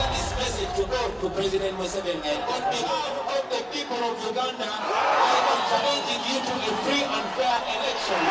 This message to go to President Museveni and on behalf of the people of Uganda, I am challenging you to a free and fair election.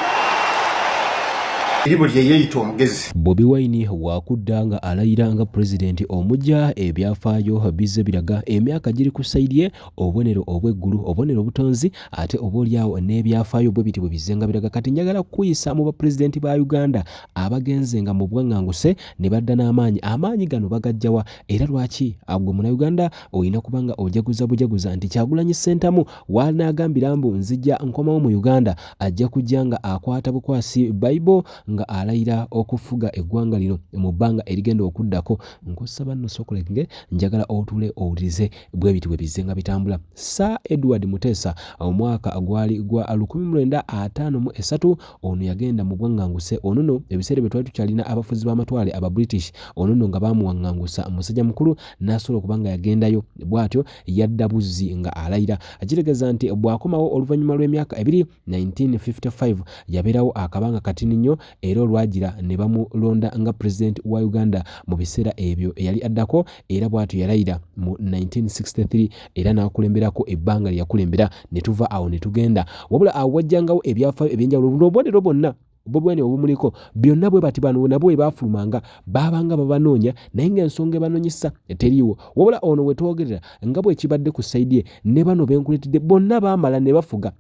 Iribu lye yeyita omugezi. Bobi Wine wakudda nga alayira nga president omugya ebyafaayo bizze biraga emyaka giri ku side ye obubonero obw'eggulu obubonero obutonzi ate oboolyawo n'ebyafaayo bwe biti bwe bizze nga biraga kati njagala kukuyisa mu ba president ba Uganda abagenze nga mu bwaŋŋanguse ne badda n'amaanyi amaanyi gano bagajja wa era lwaki agwe munauganda olina kuba nga ojaguza bujaguza nti kyagulanyi ssentamu wanaagambira mbu nzija nkomawo mu uganda ajja kujja nga akwata bukwasi bayibo nga alayira okufuga eggwanga lino mu bbanga erigenda okuddako nkusaba nno sokulenge njagala otuule owulirize bwe biti bwe bizze nga bitambula sir edward muteesa omwaka gwali gwa 1953 ono yagenda mu bwaŋŋanguse ono no ebiseera bye twali tukyalina abafuzi b'amatwale aba british ono no nga baamuwaŋŋangusa musajja mukulu n'asobola okuba nga yagendayo bw'atyo yadda buzzi nga alayira akitegeeza nti bw'akomawo oluvannyuma lw'emyaka ebiri 1955 yabeerawo akabanga katini nnyo era olwagira ne bamulonda nga pulezidenti wa uganda mu biseera ebyo eyali addako era bwatyo yalayira mu 1963 era n'akulemberako ebbanga lye yakulembera ne tuva awo ne tugenda wabula awo wajjangawo ebyafaayo eby'enjawulo buno obubonero bwonna bubwene obumuliko byonna bwe bati bano nabo bwe baafulumanga baabanga babanoonya naye ng'ensonga ebanoonyesa teriiwo wabula ono we twogerera nga bwe kibadde ku sayidi ye ne bano be nkuleetedde bonna baamala ne bafuga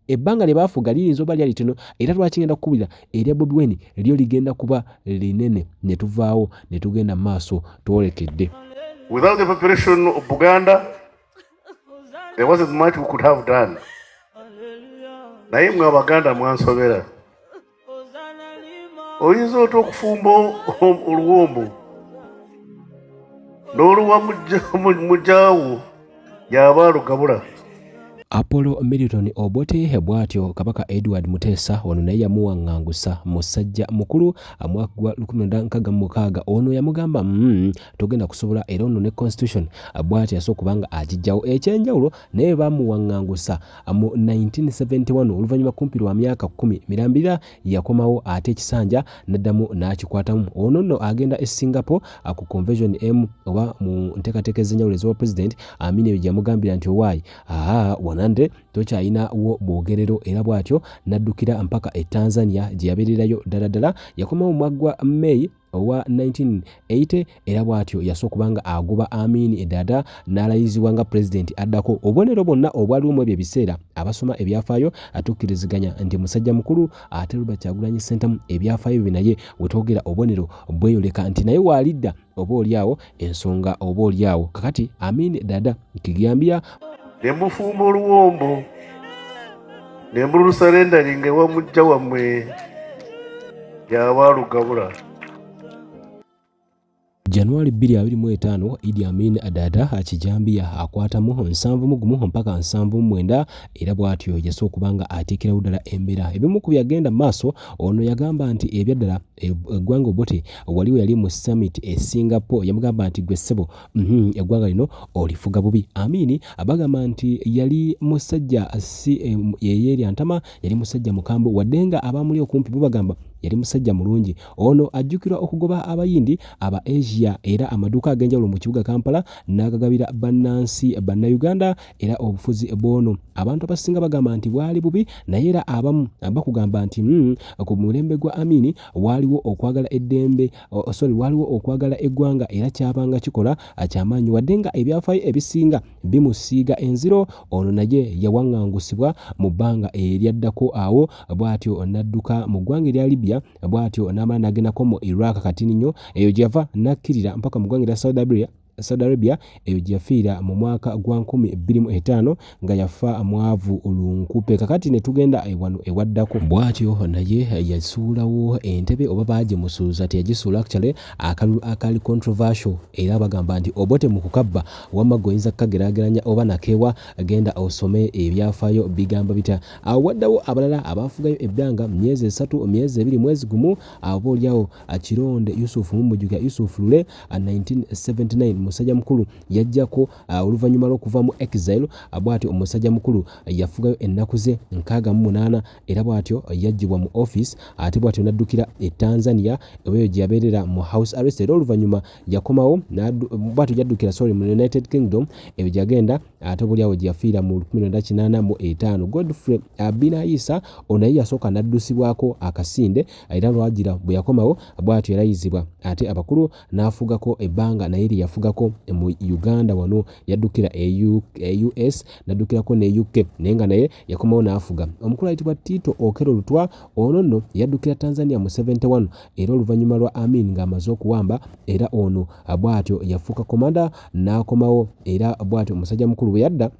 ebbanga lye baafuga liyinza oba lyali tino era lwaki ngenda kukubulira erya bobi weni lyo ligenda kuba linene ne tuvaawo ne tugenda mu maaso twolekedde without the preparation of buganda there wasn't much we could have done naye mwe abaganda mwansobera oyinza ota okufumba oluwombo n'oluwa mujaawo yaba alugabula apollo milton obote bwatyo kabaka edward muteesa ono naye yamuwaŋŋangusa musajja mukulu mwaka gwa 1966 ono yamugamba mm, togenda kusobola era ono ne constitution bwatyo yasooka kubanga agijjawo ekyenjawulo naye baamuwaŋŋangusa mu 1971 oluvannyuma kumpi lwa myaka kkumi mirambira yakomawo ate ekisanja n'addamu n'akikwatamu ono nno agenda e singapore ku convention emu oba mu nteekateeka ez'enjawulo ez'obwa pulezidenti amina eyo gyeyamugambira nti owaayi aa wanande tokyalinawo bwogerero era bw'atyo n'addukira mpaka e tanzania gye yabeererayo ddala ddala yakomawo mwaggwa may owa 1980 era bwatyo yasooka kubanga agoba Amin Edada n'alayizibwa nga pulezidenti addako. Obubonero bwonna obwaliwo mu ebyo ebiseera abasoma ebyafaayo atukkiriziganya nti musajja mukulu ate Robert Kyagulanyi Ssentamu ebyafaayo bye naye we twogera obubonero bweyoleka nti naye waalidda oba olyawo ensonga oba olyawo kakati Amin Dada Kigambya ne mufumba oluwombo ne mulusarendaringa ewa mujja wammwe yawaalugabula Januari 2025 Idi Amin Adada akijambiya akwatamu nsanvu mugumu mpaka nsanvu mwenda era bwatyo yasa okuba nga ateekerawo ddala embeera ebimu ku byagenda maaso ono yagamba nti ebyaddala eggwanga obote waliwo yali mu summit e Singapore yamugamba nti gwe ssebo Mhm, eggwanga lino olifuga bubi amiini bagamba nti yali musajja si eh, yeyeerya ntama yali musajja mukambwe wadde nga abaamuli okumpi bo bagamba yali musajja mulungi ono ajjukirwa okugoba abayindi aba asia era amaduuka ag'enjawulo mu kibuga kampala n'agagabira bannansi bannayuganda era obufuzi bwono abantu abasinga bagamba nti bwali bubi naye era abamu bakugamba nti mm, ku mulembe gwa amini waaliwo okwagala eddembe sorry waliwo okwagala eggwanga era kyabanga kikola akyamaanyi wadde nga ebyafaayo ebisinga bimusiiga enziro ono naye yawaŋŋangusibwa mu bbanga eryaddako awo bw'atyo n'adduka mu ggwanga erya libya bw'atyo n'amala n'agendako mu iraq kati ninyo eyo gye yava n'akkirira mpaka mu ggwanga erya saudi arabia Saudi Arabia eyo gyeyafiira mu mwaka gwa nkumi bbiri mu etaano nga yafa mwavu lunkupe kakati ne tugenda wano ewaddako bwatyo naye yasuulawo entebe oba baagimusuuza teyagisuula actually akalulu akaali controversial era bagamba nti obote mu kukabba wamma gwe oyinza kukageraageranya oba nakeewa genda osome ebyafaayo bigamba bitya awo waddawo abalala abaafugayo ebbanga myezi esatu myezi ebiri mwezi gumu abo olyawo akironde Yusuf mumujukira Yusuf Lule 1979 musajja mukulu yajjako oluvannyuma lw'okuva mu exile bw'atyo omusajja mukulu yafugayo ennaku ze nkaaga mu munaana era bw'atyo yajjibwa mu office ate bw'atyo n'addukira e Tanzania eweeyo gye yabeerera mu house arrest era oluvannyuma yakomawo bw'atyo yaddukira sorry mu United Kingdom eyo gye yagenda ate oboolyawo gye yafiira mu 1985 Godfrey Abinayisa ono naye yasooka n'addusibwako akasinde era lwagira bwe yakomawo bw'atyo yalayizibwa ate abakulu n'afugako ebbanga naye lye yafugako mu Uganda wano yaddukira e US e n'addukirako ne UK naye nga naye yakomawo n'afuga omukulu ayitibwa Tito Okello Lutwa ono nno yaddukira Tanzania mu 71 era oluvannyuma lwa Amin ng'amaze okuwamba era ono bw'atyo yafuuka komanda n'akomawo era bw'atyo omusajja mukulu bwe yadda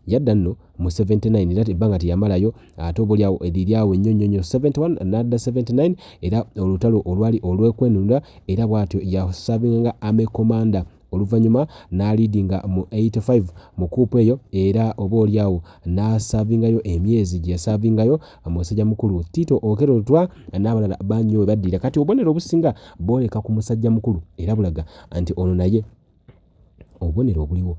yadda nno mu 79 era ebbanga teyamalayo ate obolyawo eriryawo ennyo nnyo nnyo 71 nadda 79 era olutalo olwali olwekwenunula era bw'atyo yasabinga nga ame commander oluvannyuma n'aliidinga mu 85 mu kuupu eyo era oba olyawo n'asaavingayo emyezi gye yasaavingayo musajja mukulu tiito okero lutwa n'abalala banyo we baddira kati obubonero obusinga booleka ku musajja mukulu era bulaga nti ono naye obubonero obuliwo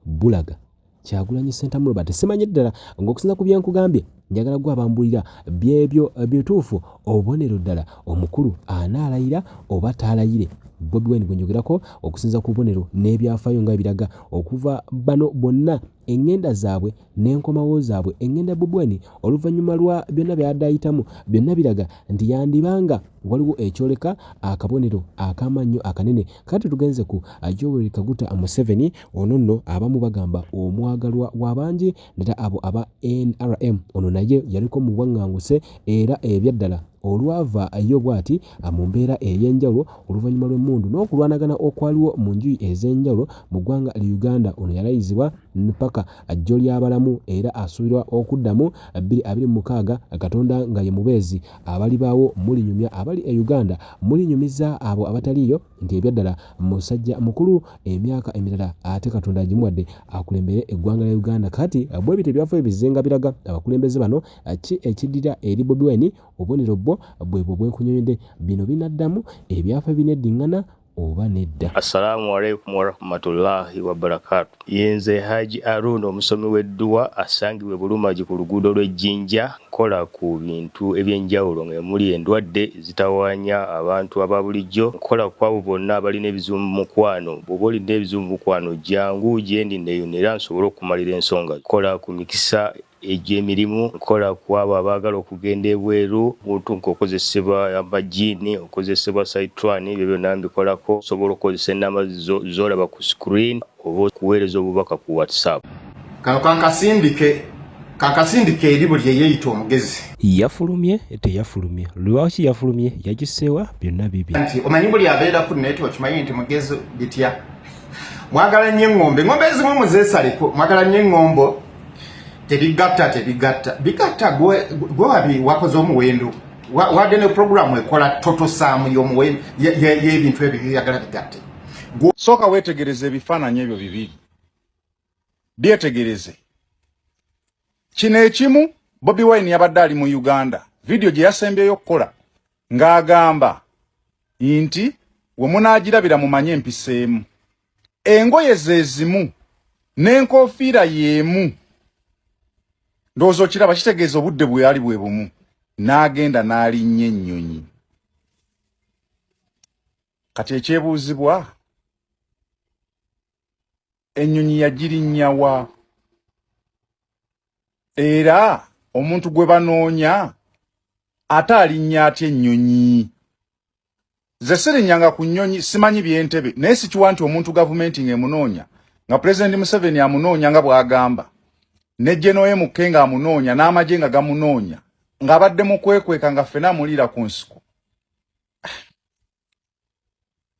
bulaga kyagulanyi sentamu robert simanye ddala ngaokusinza ku byenkugambye njagala gwe abambulira byebyo bituufu obubonero ddala omukulu anaalayira oba taalayire bobi wine gwenjogerako okusinza ku bubonero n'ebyafaayo nga ebiraga okuva bano bonna engenda zaabwe n'enkomawo zaabwe engenda bubweni oluvannyuma lwa byonna byadayitamu byonna biraga nti yandibanga waliwo ekyoleka akabonero akamannyo akanene kati tugenze ku ajoweri kaguta museveni ono nno abamu bagamba omwagalwa w'abangi nera abo aba nrm ono naye yaliko mu bwaŋŋanguse era ebyaddala olwava yo bwati mu mbeera ey'enjawulo oluvannyuma lw'emmundu n'okulwanagana okwaliwo mu njuyi ez'enjawulo mu ggwanga li Uganda. Ono yalayizibwa ppaka jjo ly'abalamu era asuubirwa okuddamu bbiri abiri mu mukaaga Katonda nga ye mubeezi. Abalibaawo mulinyumya abali e Uganda, mulinyumiza abo abataliiyo nti ebyaddala musajja mukulu emyaka emirala ate Katonda agimuwadde akulembere eggwanga lya Uganda kati bwe bityo ebyafaayo bizzenga biraga abakulembeze bano ki ekiddira eri Bobi Wine obubonero bwo bwebwo bwenkunyonyodde bino binaddamu ebyafa bineddiŋŋana oba nedda assalamu alaikum warahmatullahi wabarakatu yenze haji arun omusomi w'edduwa asangibwa ebulumagi ku luguudo lw'ejjinja nkola ku bintu ebyenjawulo nga emuli endwadde ezitawaanya abantu aba bulijjo nkola ku abo bonna abalina ebizibu mu mukwano bwoba olina ebizibu mu mukwano jangu gyendi neyuna era nsobole okukumalira ensonga nkola ku mikisa Egyo emirimu nkola ku abo abaagala okugenda ebweru, omuntu ng'okozesebwa amajjiini, okozesebwa Sayitwani, ebyo byonna mbikolako. Osobola okukozesa ennamba zo z'olaba ku screen oba okuweereza obubaka ku WhatsApp. Kano kankasindike, kankasindike eri buli eyeeyita omugezi. Yafulumye, teyafulumye, lwaki yafulumye, yagisseewa, wa, byonna bibi. Anti omanyi buli abeera ku nneeti okimanyi nti mugezi bitya. Mwagala nnyo eŋŋombo, eŋŋombo ezimu muzeesaleko, mwagala nnyo eŋŋombo. tebigatta tebigatta bigatta gwe wabi wakoze omuwendo wadde ne programu ekola totosaamu yomuwendo yebintu ebyo byoyagala bigatte sooka wetegereze ebifaananyi ebyo bibiri byetegereze kino ekimu bobi wine yabadde ali mu uganda vidiyo gye yasembyeyo okukola ng'agamba nti wemunaagirabira mumanye empiseemu engoye zezimu n'enkofiira y'emu ndowooza okiraba kitegeeza obudde bwe yali bwe bumu n'agenda n'alinnya ennyonyi kati ekyebuuzibwa ennyonyi yagirinnya wa era omuntu gwe banoonya ate alinnya atya ennyonyi nze sirinyanga ku nnyonyi simanyi byentebe naye sikiwa nti omuntu gavumenti ng'emunoonya nga pulezidenti museveni amunoonya nga bw'agamba ne genoye mukke nga amunoonya n'amagye nga gamunoonya ng'abadde mu kwekweka nga ffena amuliira ku nsiko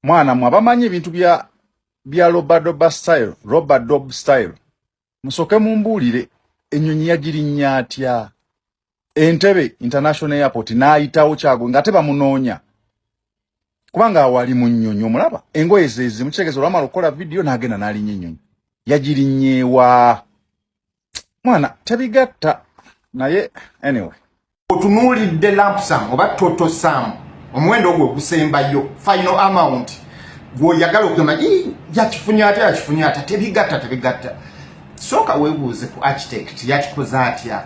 mwana mwe abamanyi ebintu bya bya robadoba style robadob style musoke mumbuulire ennyonyi yagirinnya atya entebe international airport n'ayitawo kyago ngate bamunoonya kubanga awali mu nnyonyi omulaba engoye zezimu kitegeeza olwamala okukola vidiyo n'agenda n'alinnya ennyonyi yagirinyeewa mwana tebigatta naye anyway otunuulidde lampsam oba toto sam omuwendo ogwo ogusembayo final amount gwoyagala okugamba yakifunye ate yakifunye ata tebigatta tebigatta sooka webuuze ku architect yakikoze atya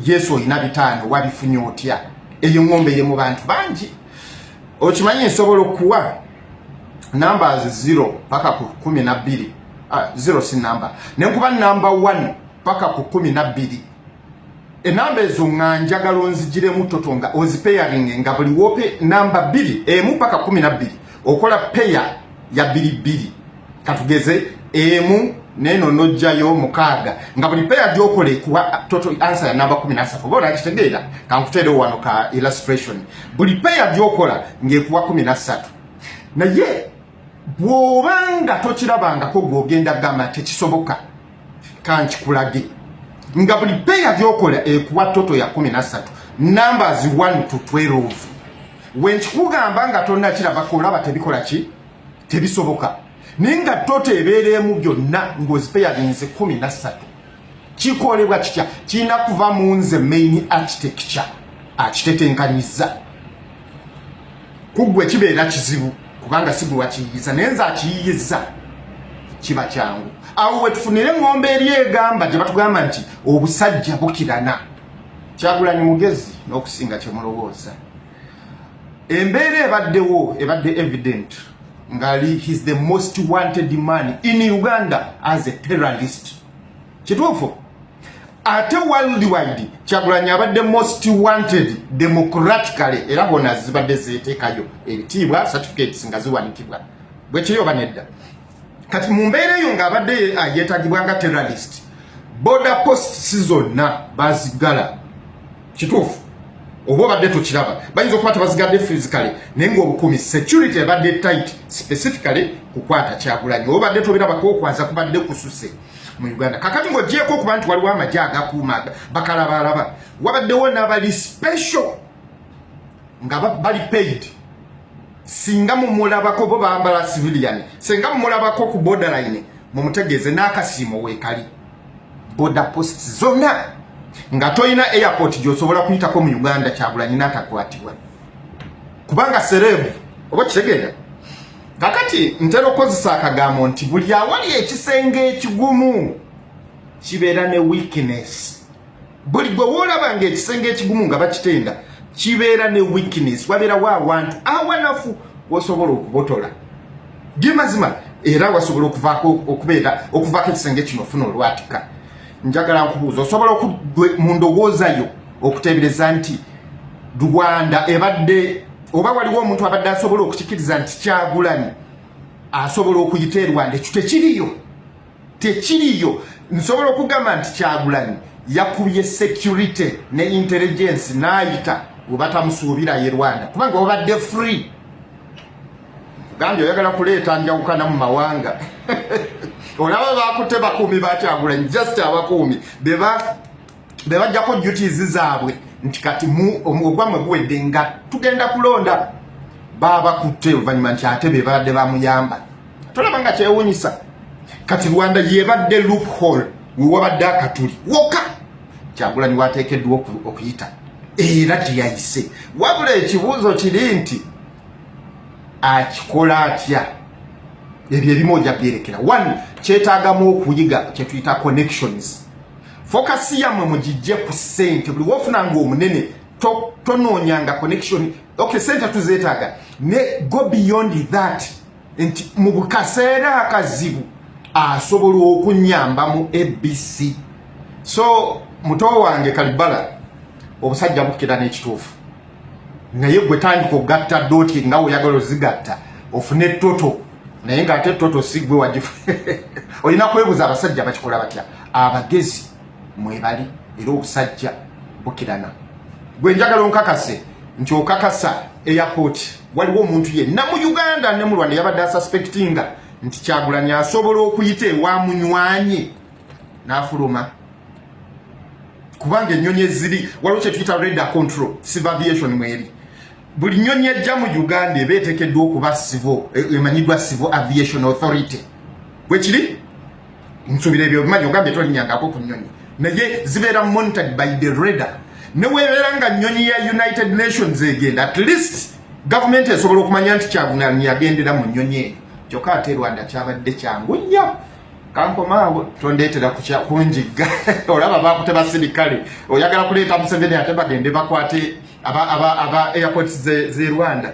yesu olina bitaano wabifunye otya eyo ngombe ye mu bantu bangi okimanyi nsobola okuwa numbers zero paka ku kumi na bbiri ah, zero si number nenkuba number one paka ku kumi na bbiri enamba ezo nga njagala onzijiremu toto nga ozipeyaringe nga buli wope namba bbiri emu paka kumi na bbiri okola peya ya bbiri bbiri katugeze emu neno nojjayo mukaaga nga buli peya gyokola ekuwa toto ansa ya namba kumi nasatu oba olakitegeera kankuteerewo wano ka illustration buli peya gyokola ngaekuwa kumi nasatu naye bw'obanga tokirabangako gw'ogenda gamba tekisoboka kankikulage nga buli peya gyokola ekuwa toto ya 13 numbers 1 to 12 wenkikugamba nga tonakirabako olaba tebikola ki tebisoboka naye nga toto ebeera emu gyonna ngaozipeyalinze 13 kikolebwa kitya kirina kuva mu nze main architecture akitetenkanyiza kuggwe kibeera kizibu kubanga sigwe wakiyiyiza naye nze akiyiyiza kiba kyangu awo wetufunire ngombe eri egamba gye batugamba nti obusajja bukirana kyagulanyi mugezi n'okusinga kyemulowooza embeera ebaddewo ebadde evident ngali his the most wanted man in uganda as a terrorist kituufu ate worldwide kyagulanyi abadde most wanted democratically era bona zibadde zeteekayo ebitiibwa certificates nga ziwanikibwa bwekiri oba nedda kati mu mbeera eyo ng'abadde yetagibwa nga terrorist border posts zonna bazigala kituufu oba obadde tokiraba bayinza okuba tebazigadde physically naye ngaobukuumi security ebadde tight specifically kukwata kyagulanyi oba obadde tobirabako okwaza kubadde kususe mu uganda kakati ngaogyeko okuba nti waliwo amagye agakuuma bakalabaalaba wabaddewo nabali special nga bali paid singa mumulabako bo bambala civilian singa mumulabako ku borderline mumutegeeze n'akasiimo weekali boda posts zona nga toyina airport gyosobola kuyitako mu uganda kyagulanyi natakwatibwa kubanga serebu oba kitegeera kakati ntera okozesa akagambo nti buli awali ekisenge ekigumu kibeera ne weakness buli gwe woolaba ng'ekisenge ekigumu nga bakitenda kibeera ne weakness wabeerawo awantu awanafu wosobola okubotola ge mazima era wasobola okuvaako okubeera okuvaako ekisenge kino ofuna olwatika njagala nkubuuza osobola okugwe mu ndowooza yo okuteebereza nti rwanda ebadde oba waliwo omuntu abadde asobola okukikiriza nti kyagulanyi asobola okuyita e rwanda ekyo tekiriyo tekiriyo nsobola okugamba nti kyagulanyi yakubye security ne intelligence nayita webatamusuubira ye rwanda kubanga wabadde free gambye oyagala kuleeta njawukana mu mawanga olaba bakutte bakuumi bakyagulanyi just abakuumi bebajjako duties zaabwe nti kati ogwamwe guwedde nga tugenda kulonda babakutte oluvanyuma nti ate bebabadde bamuyamba tolaba nga kyewunyisa kati rwanda yebadde loophole wewabadde akatuli woka kyagulanyi wateekeddwa okuyita era teyayise wabula ekibuuzo kiri nti akikola atya ebyo ebimu oja byerekera one kyetagamu okuyiga kyetuyita connections fokasi yamwe mugijje ku sente buli wofuna nga omunene tonoonyanga connection okay sente tuzeetaaga ne go beyond that nti mu bukaseera akazibu asobola okunyamba mu abc so muto wange kalibala obusajja bukira n'ekituufu naye gwe tandika okugatta doti nga oyagala ozigatta ofune toto naye nga ate toto sigwe wagifu olina kwebuza abasajja bakikola batya abagezi mwebali era obusajja bukirana gwe njagala onkakase nti okakasa airport waliwo omuntu yenna mu uganda ne mu rwanda yabadde asuspectinga nti kyagulanyi asobola okuyita ewa munywanye n'afuluma kubanga ennyonyi eziri waliwo kyetuyita reda control civil aviation mweri buli nnyonyi ejja mu uganda eba etekeddwa okuba sivo e, emanyiddwa civil aviation authority bwekiri nsubira ebyo obimanyi ogambye tolinyangako ku nyonyi naye zibeera monitored by the radar newebeera nga nyonyi ya united nations egenda at least gavumenti esobola okumanya nti kyagunani yagendera mu nyonyi eyo kyokka ate rwanda kyabadde kyangu nnyo kankomaawo tondetera kunjigga olaba bakute basirikale oyagala kuleeta museveni ate bagende bakwate aba airport ze rwanda